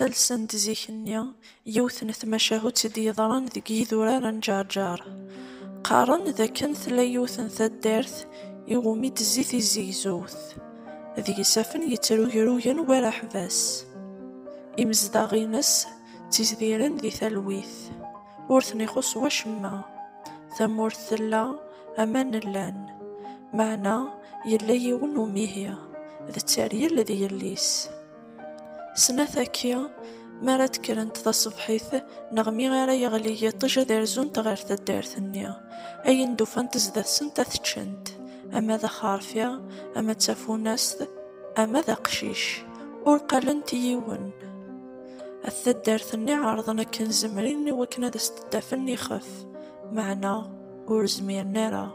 Ttalsen-d zik-nni yiwet n tmacahut i d-yeḍran deg yidurar n Ǧerǧer. Qqaren d akken tella yiwet n taddart i wumi d-tezzi tizzigzewt, d yisafen yettrugrugen war aḥbas. Imezdaɣ-ines ttizdiren di talwit, ur ten-ixuṣṣ wacemma. Tamurt tella, aman llan, meɛna yella yiwen n umihi, d tteryel d yelli-s. Snat akya, mi ara d-kkrent taṣebḥit, neɣ mi ara yeɣli yiṭij ad rzunt ɣer taddart-nni, ayen d-ufant zdat-sent ad t-ččent, ama d axerfi, ama d tafunast, ama d aqcic, ur qalent i yiwen. At taddart-nni ɛerḍen akken zemren i wakken ad as-d-afen ixef, meɛna ur zmiren ara.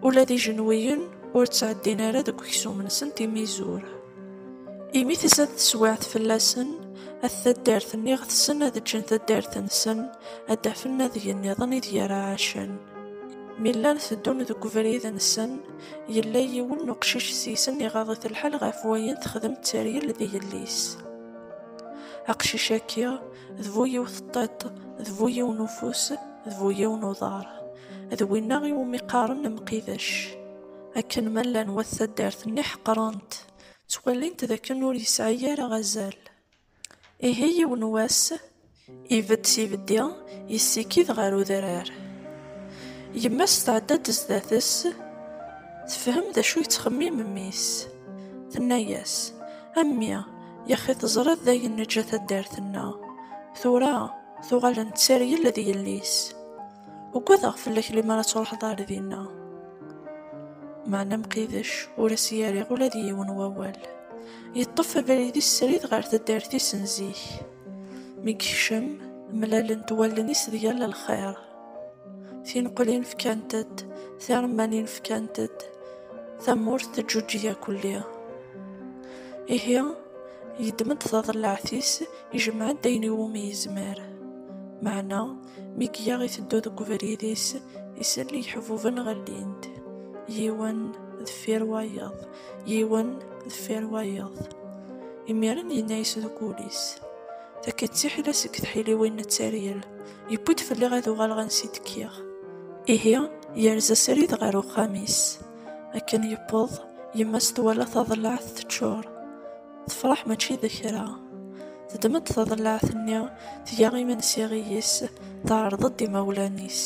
Ula d ijenwiyen ur ttɛeddin ara deg uksum-nsen timizur. Imi tizad teswiɛt fell-asen, at taddart-nni ɣetsen ad ǧǧen taddart-nsen, ad d-afen adeg-nniḍen ideg ara ɛacen. Mi llan teddun deg ubrid-nsen, yella yiwen n uqcic seg-sen iɣaḍ-it lḥal ɣef wayen texdem tteryel d yelli-s. Aqcic-agi, d bu yiwet n tiṭ, d bu yiwen ufus, d bu yiwen uḍar. d winna i wumi qqaren amqidac akken ma llan wat taddart-nni ḥeqren-t ttwalin-t d akken ur yesɛi ara azal ihi yiwen wass ibedd s ibeddi yessikid ɣer udrar yemma-s tɛedda-d sdat-s tefhem d acu yettxemmim mmi-s tenna-yas a mmi yaxi teẓriḍ d ayen neǧǧa taddart-nneɣ tura tuɣal nettargel d yelli-s Ugadeɣ fell-ak lemmer ad truḥeḍ ar dinna. Meɛna Mqidec ur as-yerriɣ ula d yiwen wawal. Yeṭṭef abrid-is srid ɣer taddart-is n zik. Mi yekcem, mlalent wallen-is d yal lxir. Tineqlin fkant-d, tiremmanin fkant-d, tamurt teǧǧuǧǧeg akelli. Ihi, yeddem-d taḍellaɛt-is, ijemɛ-d ayen iwumi yezmer. Meɛna, Mi gya iteddu deg ubrid-is, isell iḥbuben ɣellin-d, yiwen deffir wayeḍ, yiwen deffir wayeḍ. Imiren yenna-yas deg wul-is, Takka d tiḥila seg tḥiliwin n tteryel, yewwi-d fell-i ad uɣaleɣ ansi d-kkiɣ. Ihi yerza srid ɣer uxxam-is. Akken yewweḍ, yemma-s twala taḍellaɛt teččur. tefreḥ mačči d kra teddem-d taḍellaɛt-nni tga imensi iyis teɛreḍ-d imawlan-is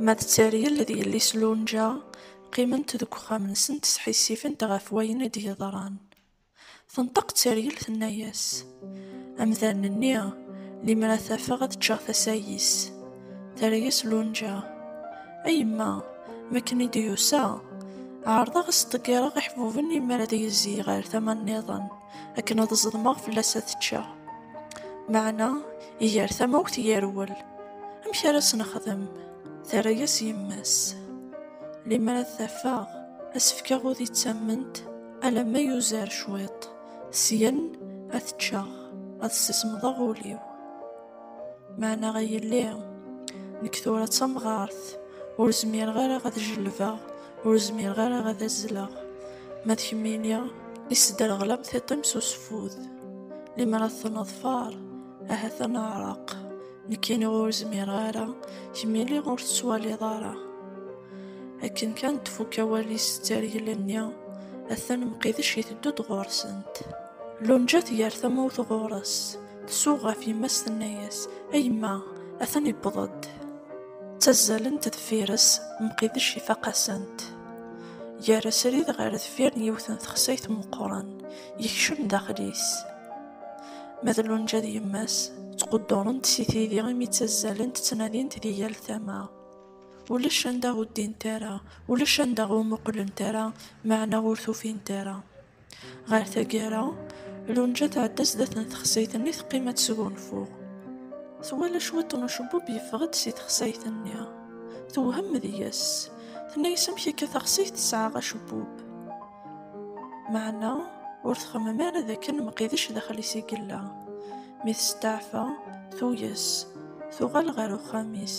ma d Tteryel d yelli-s Lunǧa qqiment deg uxxam-nsent sḥissifent ɣef wayen i d-yeḍran tenṭeq Tteryel tenna-yas amdan-nni limer ad t-afeɣ ad ččeɣ tasa-is Terra-yas Lunǧa. A yemma, mi akken i d-yusa, ɛerḍeɣ ad s-ḍeggireɣ iḥbuben i mara ad yezzi ɣer tama nniḍen, akken ad ẓedmeɣ fell-as ad teččeɣ. Meɛna, iger tamawt yerwel. Amek ara as-nexdem? Terra-yas yemma-s. Limer ad t-afeɣ, ad s-fkeɣ udi d tamment, alamma yuzer cwiṭ, syen ad t-ččeɣ, ad sismeḍeɣ ul-iw. Maɛna ay yelli, nekk tura d tamɣart, ur zmireɣ ara ad jellbeɣ, ur zmireɣ ara ad azzleɣ. Ma d kemmini, isderɣlam tiṭ-im s useffud. Lemmer ad ten-neḍfer, ahat ad neɛreq. Nekkini ur zmireɣ ara, kemmini ur tettwaliḍ ara. Akken kan d-tfukk awal-is d tergel-nni, atan Mqidec iteddu-d ɣur-sent. Lunja tger tamawt ɣur-s. Tsuɣ ɣef yemma-s tenna-yas, A yemma, atan iwweḍ-d. Ttazzalent deffir-s, Mqidec ifaq-asent. Yerra srid ɣer deffir n yiwet n texsayt meqqren, yekcem daxel-is. Ma d Lunǧa d yemma-s, ttquddurent si tidi imi ttazzalent ttnadint di yal tama. Ulac anda ur ddint ara, ulac anda ur muqlent ara, meɛna ur t-ufint ara. Ɣer taggara, Lunja tɛedda sdat n texsayt-nni teqqim ad tesgunfu. Twala cwiṭ n ucebbub yeffeɣ-d si texsayt-nni. Tewhem deg-s. Tenna-yas amek akka taxsayt tesɛa acebbub. Meɛna ur txemmem ara d akken Mqidec daxel-is i yella. Mi testeɛfa, tuyes, tuɣal ɣer uxxam-is,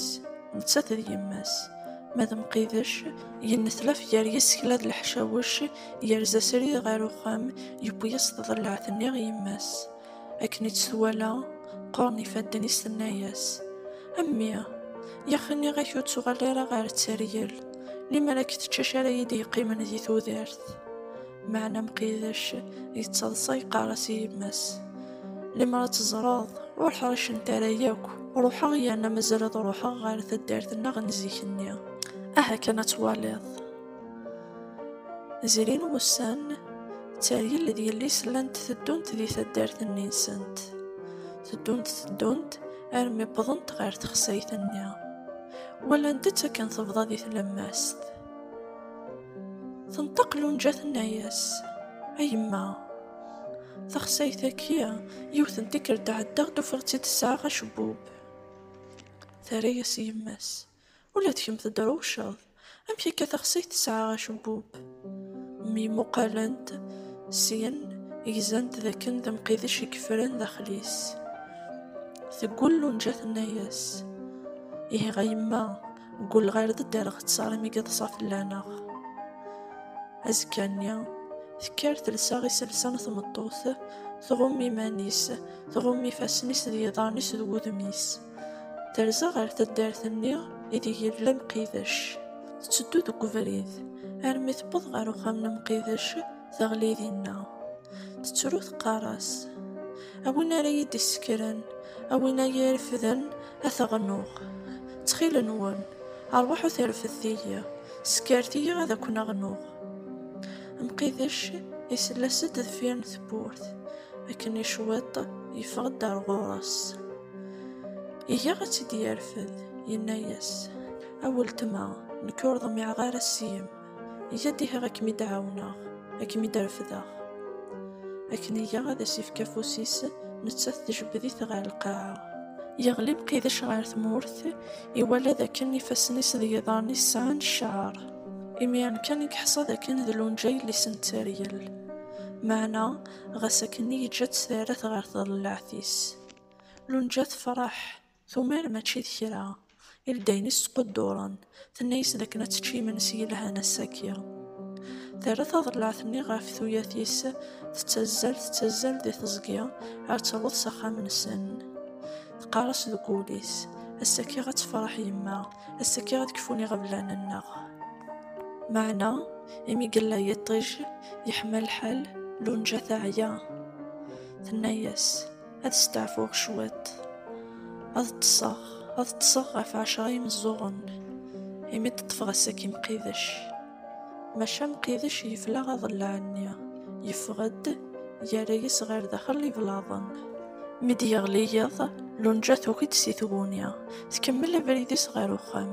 nettat d yemma-s. Ma d Mqidec, yennetlaf gar yisekla d leḥcawec Yerza srid ɣer uxxam, yewwi-yas tḍellaɛt-nni i yemma-s. Akken i tt-twala, qquren ifadden-is tenna-yas, A mmi, yax nniɣ-ak ur ttuɣal ara ɣer Tteryel, limer ad k-teččac ara yi-d-yeqqimen di tudert. Meɛna Mqidec yettaḍsa yeqqar-as i yemma-s, Limer ad teẓreḍ, ur ḥricent ara yakk, ruḥeɣ yerna mazal ad ruḥeɣ ɣer taddart-nneɣ n zik-nni. Aha kan ad twaliḍ! Zrin wussan, tteryel d yelli-s llant teddunt di taddart-nni-nsent. Teddunt teddunt armi wwḍent ɣer texsayt-nni. Walant-tt akken tebḍa di tlemmast. Tenṭeq Lunǧa tenna-yas, A yemma, taxsayt-agi yiwet n tikkelt ɛeddaɣ-d ufiɣ-tt-id tesɛa acebbub. Terra-yas yemma-s. Ula d kemm tedrewceḍ. Amek akka taxsayt tesɛa acebbub? Myemmuqalent, syen gzant d akken d amqidec i yeffren daxel-is. Teggul Lunǧa tenna-yas, Ihi a yemma, ggulleɣ ar d ddreɣ ţţar imi yeḍsa fell-aneɣ. Azekka-nni, tekker telsa iselsa n tmeṭṭut, tɣumm iman-is, tɣumm ifassen-is d yiḍarren-is d wudem-is. Terza ɣer taddart-nni ideg yella Mqidec. Tetteddu deg ubrid armi tewweḍ ɣer uxxam n Mqidec, teɣli dinna. Tettru teqqar-as, A win ara iyi-d-isekren, a win ara iyi-irefden, ad t-ɣnuɣ. Ttxil-nwen, rwaḥut irefdet-iyi, sekret-iyi ad ken-ɣnuɣ. Mqidec isell-as-d deffir n tewwurt. Akken i cwiṭ, yeffeɣ-d ar ɣur-s. Iga ad tt-id-yerfed, yenna-yas, A weltma, nekk ur ḍmiɛeɣ ara seg-m, iga dihiɣ ad kem-id-ɛawneɣ, ad kem-id-refdeɣ. Akken iga ad as-ifk afus-is, nettat tjebbed-it ɣer lqaɛa. Yeɣli Mqidec ɣer tmurt, iwala d akken ifassen-is d yiḍarren-is sɛan cceɛr. Imiren kan i yeḥṣa d akken d lunǧa yelli-s n tteryel. Meɛna, ɣas akken, yeǧǧa-tt terra-t ɣer tḍellaɛt-is. Lunǧa tefreḥ, tumer mačči d kra, i ldayen-is ttqudduren, tenna-yas d akken ad tečč imensi yelhan ass-agi. Terra taḍellaɛt-nni ɣef tuyat-is, tettazzal, tettazzal di teẓgi, ar taweḍ s axxam-nsen. Teqqar-as deg wul-is, ass-agi ad tefreḥ yemma, ass-agi ad kfun iɣeblan-nneɣ. Meɛna, imi yella yiṭij, yeḥma lḥal, Lunǧa teɛya. Tenna-yas. ad steɛfuɣ cwiṭ, ad ṭṭseɣ, ad ṭṭseɣ ɣef ɛecra imeẓẓuɣen, imi ṭṭṭfeɣ ass-agi Mqidec. Maca Mqidec yefla aḍellaɛ-nni, yeffeɣ-d, yerra-yas ɣer daxel iblaḍen. Mi d-yeɣli yiḍ, Lunǧa tuki-d si tguni, tkemmel abrid-is ɣer uxxam,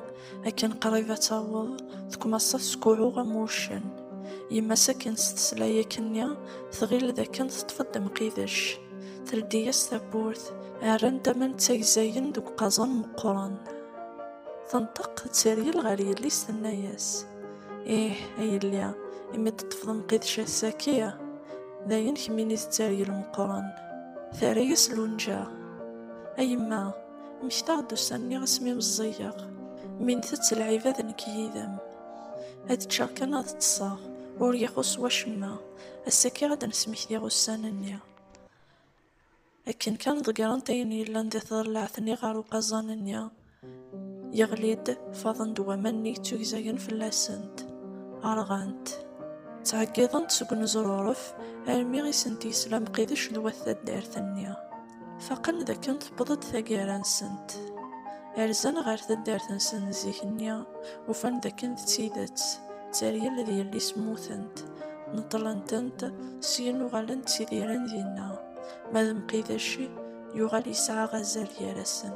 akken qrib ad taweḍ tkmaṣa teskuɛu am wuccen yemma-s akken s teslayek-nni tɣil d akken teṭṭef-d mqidec teldi-yas tawwurt rran-d aman d tagzayin deg uqaẓan meqqren tenṭeq d teryel ɣer yelli-s tenna-yas ih a yelli imi teṭṭfeḍ mqidec ass-agi d ayen kemmini d teryel meqqren terra-yas lunǧa a yemma Mmektaɣ-d ussan-nni asmi meẓẓigeɣ, mi ntett lɛib ad nekk yid-m. Ad ččeɣ kan ad ṭṭseɣ, ur ixuṣ wacemma, ass-agi ad d-nesmektiɣ ussan-nni. Akken kan ḍeggrent ayen yellan di tḍellaɛt-nni ɣer uqaẓan-nni, yeɣli-d, faḍen-d waman-nni yettugzagen fell-asent, rɣant. Ttɛeggiḍent seg uneẓruref armi i sent-yesla Mqidec d wat taddart-nni. Faqen dakken tewweḍ-d taggara-nsent. Rzan ɣer taddart-nsen n zik-nni, ufan dakken d tidet, d taryel d yelli-s mmutent. Neṭṭlen-tent, syin uɣalen ttidiren dinna. Ma d Mqidec, yuɣal yesɛa azal gar-asen.